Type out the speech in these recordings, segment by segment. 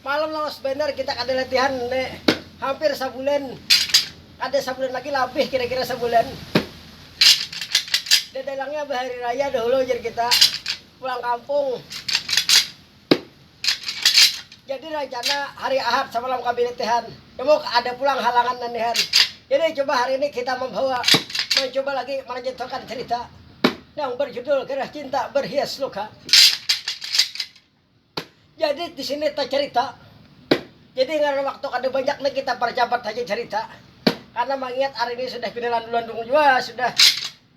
Malam lawas banar kita kada latihan ne hampir sabulan, kada sabulan lagi labih kira-kira sabulan. Dadalangnya bahari raya dahulu ujar kita pulang kampung. Jadi rancana hari Ahad samalam kami latihan, namun ada pulang halangan nandihan. Jadi coba hari ini kita membawa mencoba lagi melanjutkan cerita yang berjudul Gerah Cinta Berhias Luka. Jadi disini tacarita, jadi ngaran waktu kada banyak ni kita parcapat haja carita, karna mangiat hari ini sudah pina landung-landung jua sudah,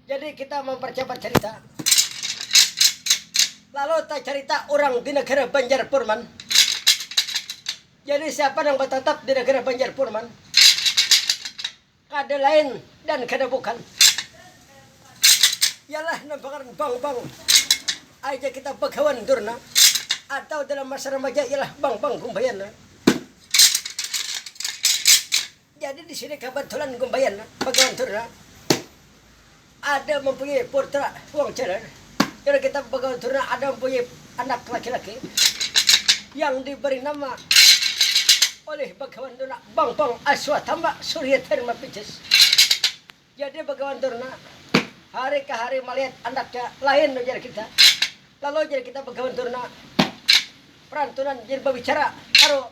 jadi kita mamparcapat carita. Lalu tacarita urang di negara Banjar Purman, jadi siapa nang batatap di negara Banjar Purman. Kada lain dan kada bukan ialah nang pangaran bang bang aja kita bagawan durna atau dalam masa remaja ialah bang bang gumbayana. Jadi di sini kabatulan gumbayana bagawan durna. Ada mampunyai putra wong jalan, karna kitab bagaul tu nah ada mampunyai anak laki-laki yang diberi nama oleh bagawan tu nah Bangpong Aswatama Surya Dharma Pijus. Jadi bagawan tu nah hari ka hari malihat anaknya lain ujar kita, lalu jar kita bagawan tu nah perantunan jadi babicara karo.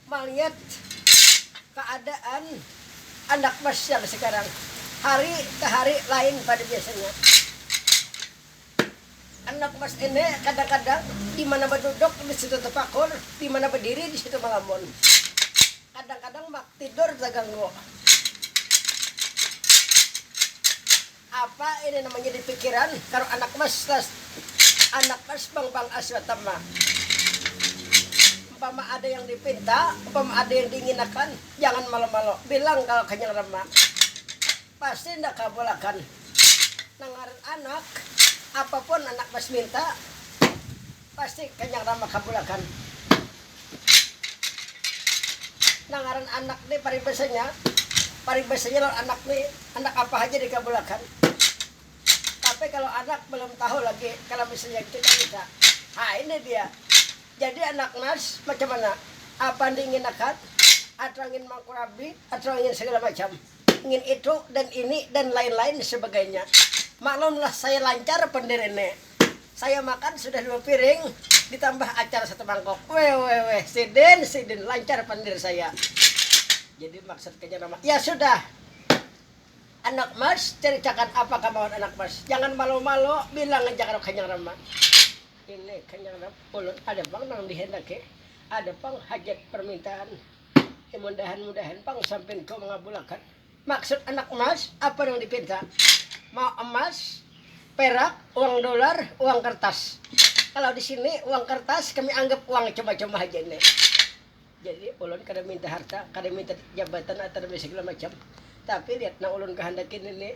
Maliat kaadaan anak basial sakarang, hari ka hari lain pada biasanya. Anak mas ini kadang-kadang di mana baduduk di situ tapakur, di mana badiri di situ malamun. Kadang-kadang mak tidur taganggu. Apa ini nang manjadi pikiran karuk anak mas las anak mas bang bang as batam ma umpama ada yang dipinta umpama ada yang diinginakan jangan malo malo bilang kalo kanyang ram ma pasti nda kabul akan nang ngaran anak apapun anak mas minta. Pasti kanyang rama kabulakan. Nang ngaran anak ni paribasanya, paribasanya lawan anak ni handak apa haja dikabulakan. Tapi kalau anak belum tahu lagi kalau misalnya kita bisa, ha ini dia. Jadi anak Mas macam mana? Apa andi ingin akad? Atau ingin mangkurabi? Atau ingin segala macam? Ingin itu dan ini dan lain-lain sebagainya. Maklumlah saya lancar pendiri ni. Saya makan sudah dua piring ditambah acar satu mangkok. Wewewe, sidin, sidin, lancar pandir saya. Jadi maksud kanya nama, ya sudah anak mas caricakan apa kamahuan anak mas. Jangan malo-malo, bilang aja kada kanyang rama. Ini kanyang ram, ulun ada pang nang dihendaki, ada pang hajat permintaan. Mudahan-mudahan pang sampinku mangabulakan. Maksud anak emas apa nang dipinta? Mau emas, perak, uang dolar, uang kertas. Kalau di sini uang kertas kami anggap uang cuma-cuma haja ini. Jadi ulun kada minta harta, kada minta jabatan atau nang segala macam. Tapi lihat nang ulun kahandaki nini.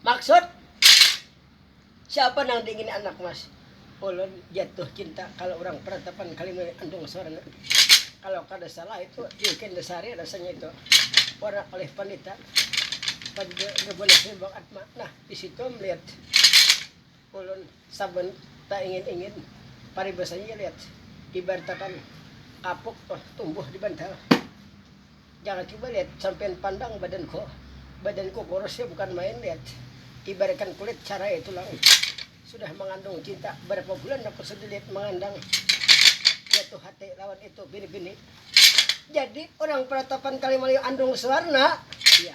Maksud siapa nang diingini anak mas? Ulun jatuh cinta kalau urang peratapan kalimanya andung suaranya kalau kada salah itu Yukenda Sari rasanya itu warna oleh Panita pada Gabunasi Bang Atma nah di situ melihat Ulun saban taingin-ingin paribasannya ja liat ibartakan kapuk tumbuh di bantal. Jangan cuba liat, sampiyan pandang badanku. Badanku kurusnya bukan main liat. Ibaratkan kulit carai tulang. Sudah mangandung cinta, barapa bulan aku sudah liat mangandang jatuh hati lawan itu bini-bini. Jadi orang peratapan Kalimayu andung suwarna. Iya.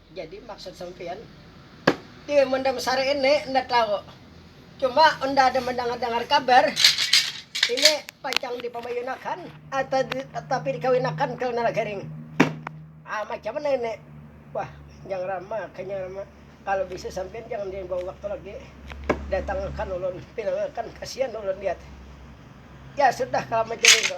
Jadi maksud sampiyan ti mun dah besar ini enda tahu. Cuma unda ada mandangar-dangar kabar ini pacang dipamayunakan atau di tapi dikawinakan ke Nala Garing. Ah macam mana ini? Wah Njang Rama, Kanyang Rama kalau bisa sampiyan jangan diambawa waktu lagi datangakan ulun, pinangakan kasian ulun lihat. Ya sudah kalau macam itu.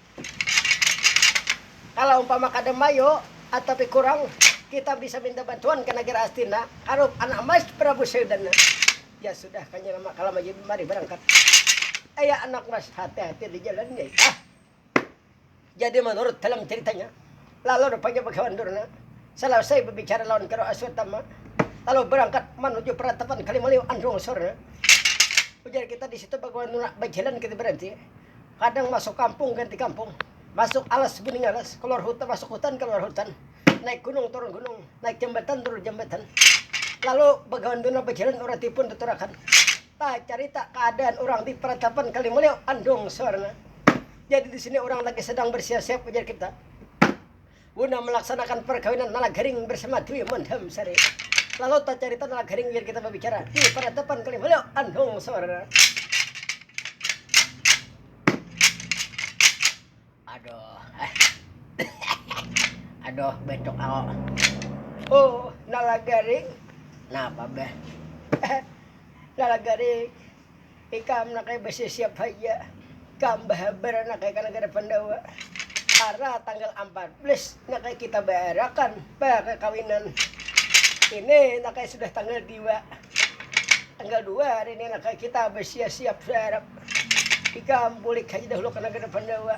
Kalo umpama kada mayo atapi kurang kita bisa minta bantuan ka nagara Astina karup anak mas prabu seudan na ya sudah kanya nama kala maji mari barangkat aya anak mas hati hati di jalan nyai ah jadi manurut dalam ceritanya lalu rupanya bagawan durna salasai babicara lawan karo aswatama lalu barangkat manuju peratapan kalimaliu andung sorna ujar kita di situ bagawan durna bajalan kita berarti. Kadang masuk kampung ganti kampung, masuk alas guning alas, keluar hutan masuk hutan keluar hutan, naik gunung turun gunung, naik jambatan turun jambatan. Lalu bagawan duna bajalan urang tipun tuturakan, bacarita keadaan urang di peratapan Kalimuliu, Andung, Suwarna. Jadi di sini urang lagi sedang bersiap-siap ujar kita. Guna melaksanakan perkawinan Nalagaring bersama Dwi Mandam Sari. Lalu tacarita Nalagaring biar kita babicara di panatapan kali Malio Andong Sora. Aduh. Aduh, betuk ako. Oh, Nalagaring. Napa, Beh? Nalagaring. Ikam naka basisiap haja, ikam bahabar naka ka nagara Pandawa. Ara tanggal ampat belas naka kita baarakan bakakawinan. Ini naka sudah tanggal diwa, tanggal dua hari ini naka kita basiasiap saarap. Ikam bulik haja dahulu ka nagara Pandawa,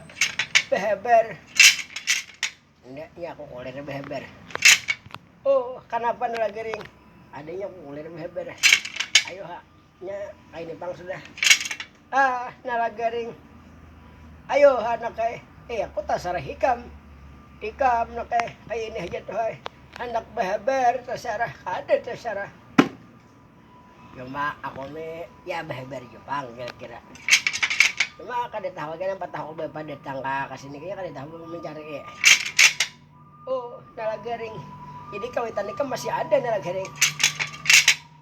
bahabar. Enda, nya aku kulir bahabar. Oh, kanapa Nalagering? Ada nya kulir bahabar. Ayo ha. Nya ai ni pang sudah. Ah, nala garing. Ayo anak ai. Eh, aku tasarah ikam. Ikam nak ai. Ai ini aja tuh ai. Handak bahabar tasarah, kada tasarah. Cuma aku ni ya bahabar jua pang kira-kira. Cuma kada tahu lagi napa tahu bapa datang ka kasini kaya kada tahu mencari. Oh, nala garing. Jadi kawitan ikam masih ada nala garing.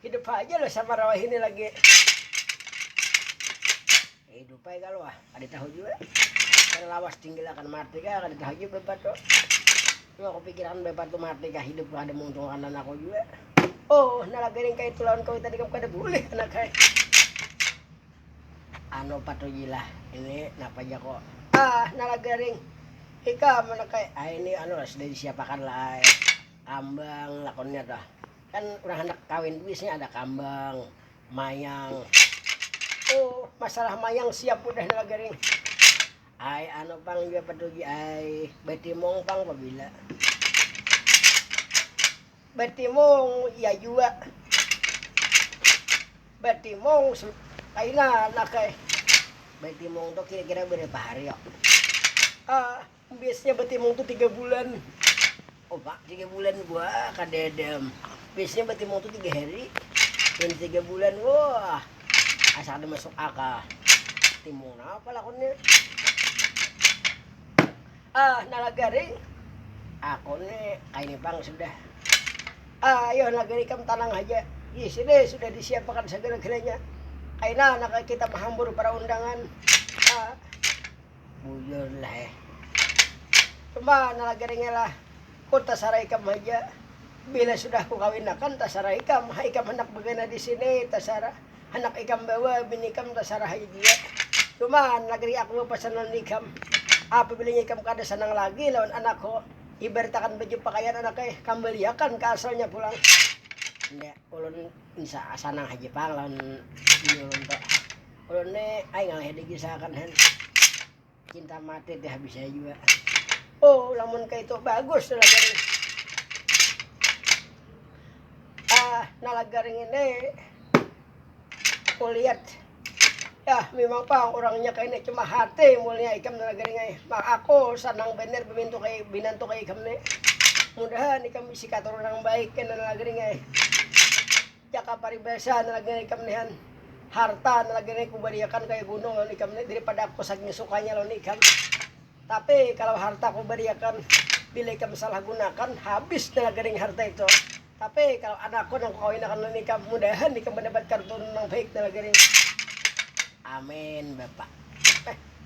Hidup haja lah sama rawa hini lagi. Hidup aja kalau ah, ada tahu juga. Karena lawas tinggal akan mati kah, ada tahu juga bebat tuh. Cuma aku pikiran bebat tuh mati kah, hidup lah ada muntung anak aku juga. Oh, nah lagi ring kayak itu lawan kau tadi kamu kada boleh anak kayak. Ano patujilah ini napa aja kok. Ah, nah lagi ring. Ika mana kayak, ah ini ano lah sudah disiapakan lah. Eh. Kambang lakonnya tuh. Kan urang handak kawin tuh biasanya ada kambang, mayang. Oh, masalah mayang siap udah nih garing. Ai anu pang jua petugi ai, betimong pang pabila. Betimong iya jua. Betimong kaina nakai. Betimong tuh kira-kira berapa hari yo? Uh, Biasnya batimung tu tiga bulan. Oh pak, tiga bulan buah kadada. Biasanya batimung tu tiga hari. Dan tiga bulan, wah asa kada masuk akal. Timung napa lakonnya? Ah, nala garing. Aku nih kaini pang sudah. Ah, ayo nala garing kam tanang haja. Di sini sudah disiapakan segala-galanya. Kaina naka kita mahambur para undangan. Ah, Bujur lah eh. Coba nala geringe lah. Ku tasara ikam haja. Bila sudah ku kawin akan tasara ikam. Ha ikam handak bagana di sini tasara. Handak ikam bawa bini ikam tasara haja jua. Cuma nala gering aku bapasan lawan ikam. Apabila nya ikam kada sanang lagi lawan anak ko. Ibarat akan baju pakaian anak eh. Kambali akan ka asalnya pulang. Nda, ulun sanang haja pang lawan bini ulun tu. Ulun ni ai ngalih digisahakan hen. Cinta mati teh habis saya juga. Oh, lamun kayak itu bagus tuh lagaring. Ah, nah lagaring ini kulihat ya memang pang orangnya kayak ini cuma hati mulia ikam nah lagaring ay. Mak aku senang bener bemintu kayak binantu kayak ikam nih. Mudahan ikam bisi katurunan baik kan nah lagaring ay. Jaka paribasa nang lagi ikam ni han, harta nang lagi ni kubariakan kaya gunung lawan ikam ni daripada aku saking sukanya lawan ikam. Tapi kalau harta kubariakan bila ikam salah gunakan, habis nang lagi ni harta itu. Tapi kalau anakku nang kukawinakan lawan ikam, mudahan ikam mandapat karuturunan nang baik nang lagi ni. Amin bapa.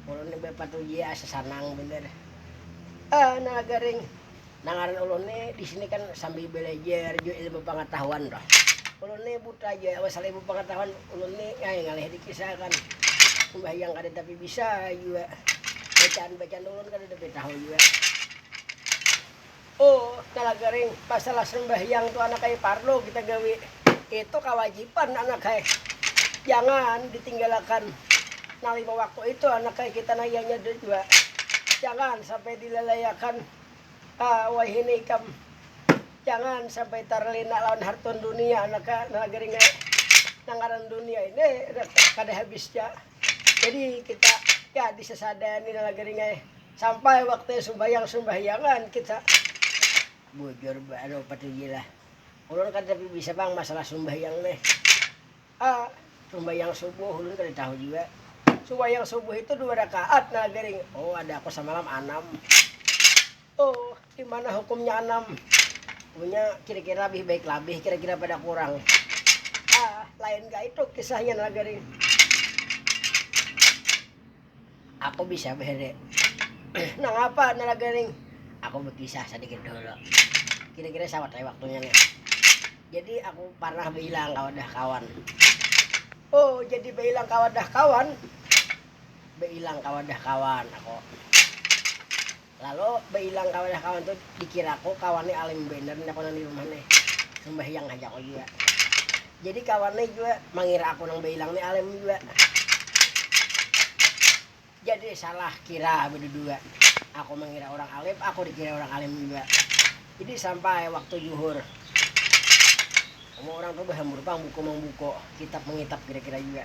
Ulun ni bapa tu iya asa sanang banar. Nang lagi ring. Nah ngaran ulun ni disini kan sambil belajar jua ilmu pangatahuan tuh. Ulun ni buta ja masalah ilmu pangatahuan, ulun ni ai ngalih dikisahakan sumbahyang kada tapi bisa jua, bacaan-bacaan ulun kada tapi tahu jua. Oh talaga ring masalah sumbahyang tu anak ai parlu kita gawi, itu kawajiban anak ai, jangan ditinggalakan nang lima waktu itu anak ai kita nang ianya jua jangan sampai dilalaiakan. Ha, wahini ikam jangan sampai tarlena lawan harta dunia naka nagari ngai nang ngaran dunia ini kada habis ja. Jadi kita ya disasada ni nagari ngai sampai waktunya sumbahyang sumbahyangan kita. Bujur baru patuji lah ulun kada tapi bisa pang masalah sumbahyang nih. A. Sumbayang subuh, ulun kada tahu jua, sumbayang subuh itu dua rakaat nah gering, oh ada aku samalam anam, oh dimana hukumnya anam, punya kira-kira labih baik labih kira-kira pada kurang, A. Lain ka itu kisahnya nah gering. Aku bisa bere. Nangapa nara garing? Aku berkisah sedikit dulu. Kira-kira sama kayak waktunya nih. Jadi aku pernah bilang ke wadah kawan. Oh, jadi bilang ke wadah kawan. Bilang ke wadah kawan aku. Lalu bailang ka wadah kawan tu dikiraku kawan ni alim banar handak pulang di rumah nih. Sambahyang haja aku jua. Jadi kawan ni jua mangira aku nang bailang ni alim jua. Jadi salah kira bedudua. Aku mangira urang alim, aku dikira urang alim jua. Jadi sampai waktu juhur. Semua urang tu bahambur pang buku mangbuku, kitab mangitap kira-kira jua.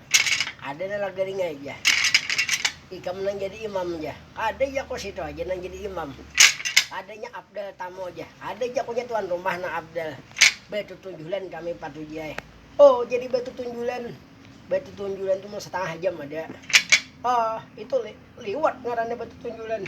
Ada nang laga ringai ja. Ikam nang jadi imam ja. Kada ja ko situ haja nang jadi imam. Kada nya afdal tamu ja. Ada ja ko nya tuan rumah nang afdal. Batutunjulan kami patuji ai. Oh jadi batutunjulan. Batutunjulan tu mun satangah jam ada. Oh itu li, liwat ngarannya batutunjulan.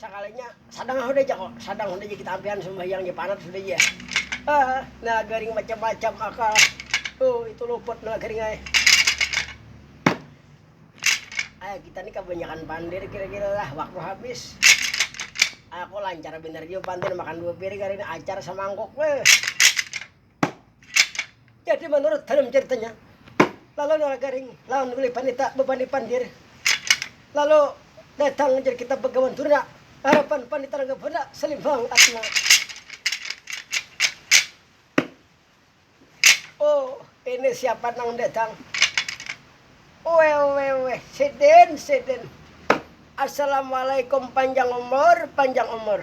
Sakalinya sadang ha sudah ja ko, sadang sudah ja kita ampihan sumbahyang ja panat sudah ja. Ah, nah garing macam-macam akal. Oh, itu luput nah garing ay. Ay, kita nih kebanyakan pandir kira-kira lah waktu habis. Aku lancar bener juga pandir makan dua piring hari ini acar semangkuk. Weh. Jadi menurut dalam ceritanya, lalu Nora Garing lawan Willy Panita bebani pandir. Lalu datang jadi kita begawan durna, harapan Panita rangga bunda selimbang atma. Oh, ini siapa nang datang? Wewe, wewe, sidin, sidin. Assalamualaikum panjang umur, panjang umur.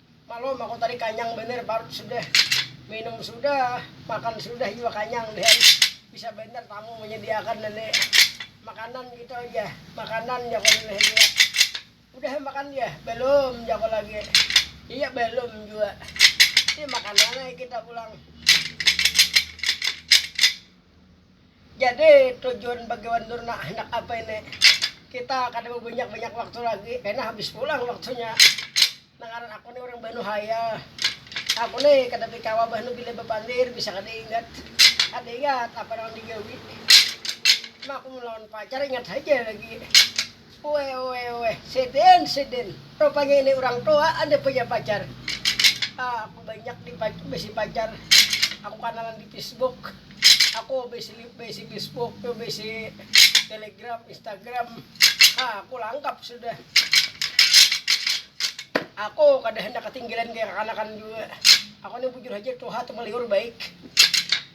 Malom aku tadi kanyang banar parut sudah minum sudah makan sudah jua kanyang dan bisa banar tamu manyadiakan ini makanan gitu aja makanan jako uleh jua udah makan ya balum jako lagi iya balum jua ini makan mana kita pulang. Jadi tujuan bagi wan dur nak handak apa ini kita kada babanyak banyak waktu lagi kena habis pulang waktunya nah ngaran aku nih orang banu hayal aku nih kada bikawa banu bila bapandir bisa kada ingat kada ingat apa nang digawi nah aku melawan pacar ingat haja lagi Weweeh sidin sidin rupanya ini urang tua ada punya pacar ah aku banyak di bisi pacar aku kanalan di fisbuk aku bisi bisi fisbuk tu bisi telegram instagram ah aku langkap sudah aku kada hendak ketinggalan kaya kanakan juga aku ni bujur haja tuha tumaliur baik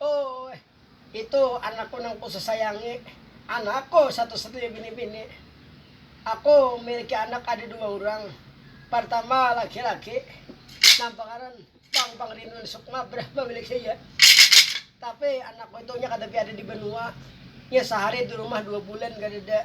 Ooh itu anakku nang ku sasayangi, anakku satu satunya bini bini. Aku miliki anak ada dua urang, partama laki laki nang pangaran Pang Pangrinduan Sukma brah mamiliki iya. Tapi anakku itu nya kada piada di banua, nya sahari di rumah dua bulan kadada.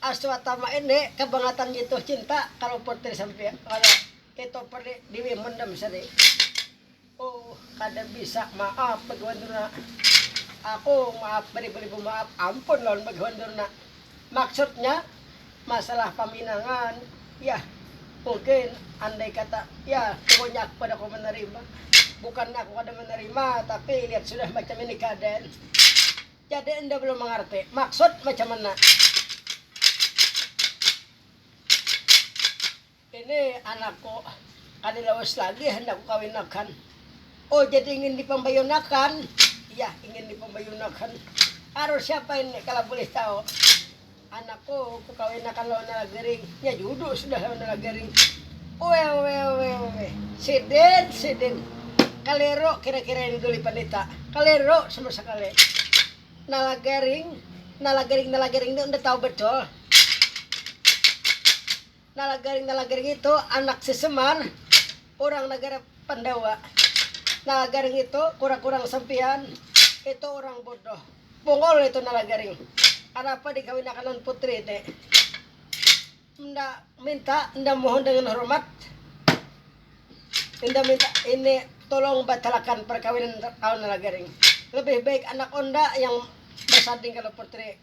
Aswatama ende kabangatan jituh cinta kalu putri sampiyan kada itu peri diwi mendem seri uh kada bisa maaf bagawan durna aku maaf baribu-ribu maaf ampun lawan bagawan durna maksudnya masalah paminangan yah mungkin andai kata ya pokoknya aku kada kawa manarima bukan aku kada manarima tapi lihat sudah macam ini keadaan Jadi enda belum mangarti maksud macam mana. Ini anakku kada lawas lagi handak kukawinakan. Oh jadi ingin dipambayunakan. Iya ingin dipambayunakan. Aruh siapa ini kala bulih tahu. Anakku kukawinakan lawan Nalagaring, nya juduk sudah lawan Nalagaring. Uewewewe. Sidin, sidin. Kaliru kira-kira ini Duli Pandita. Kaliru sama sakali. Nalagaring, Nalagaring, Nalagaring ini unda tahu betul. Nalagaring-nalagaring itu anak si Semar, urang nagara Pandawa. Nalagaring itu kurang-kurang sampiyan itu urang bodoh. Bungul itu Nalagaring. Kanapa dikawinakan lawan putri ini? Enda minta, enda mohon dengan hormat, enda minta ini tulung batalakan parkawinan lawan Nalagaring. Lebih baik anak unda yang basanding kalau putri.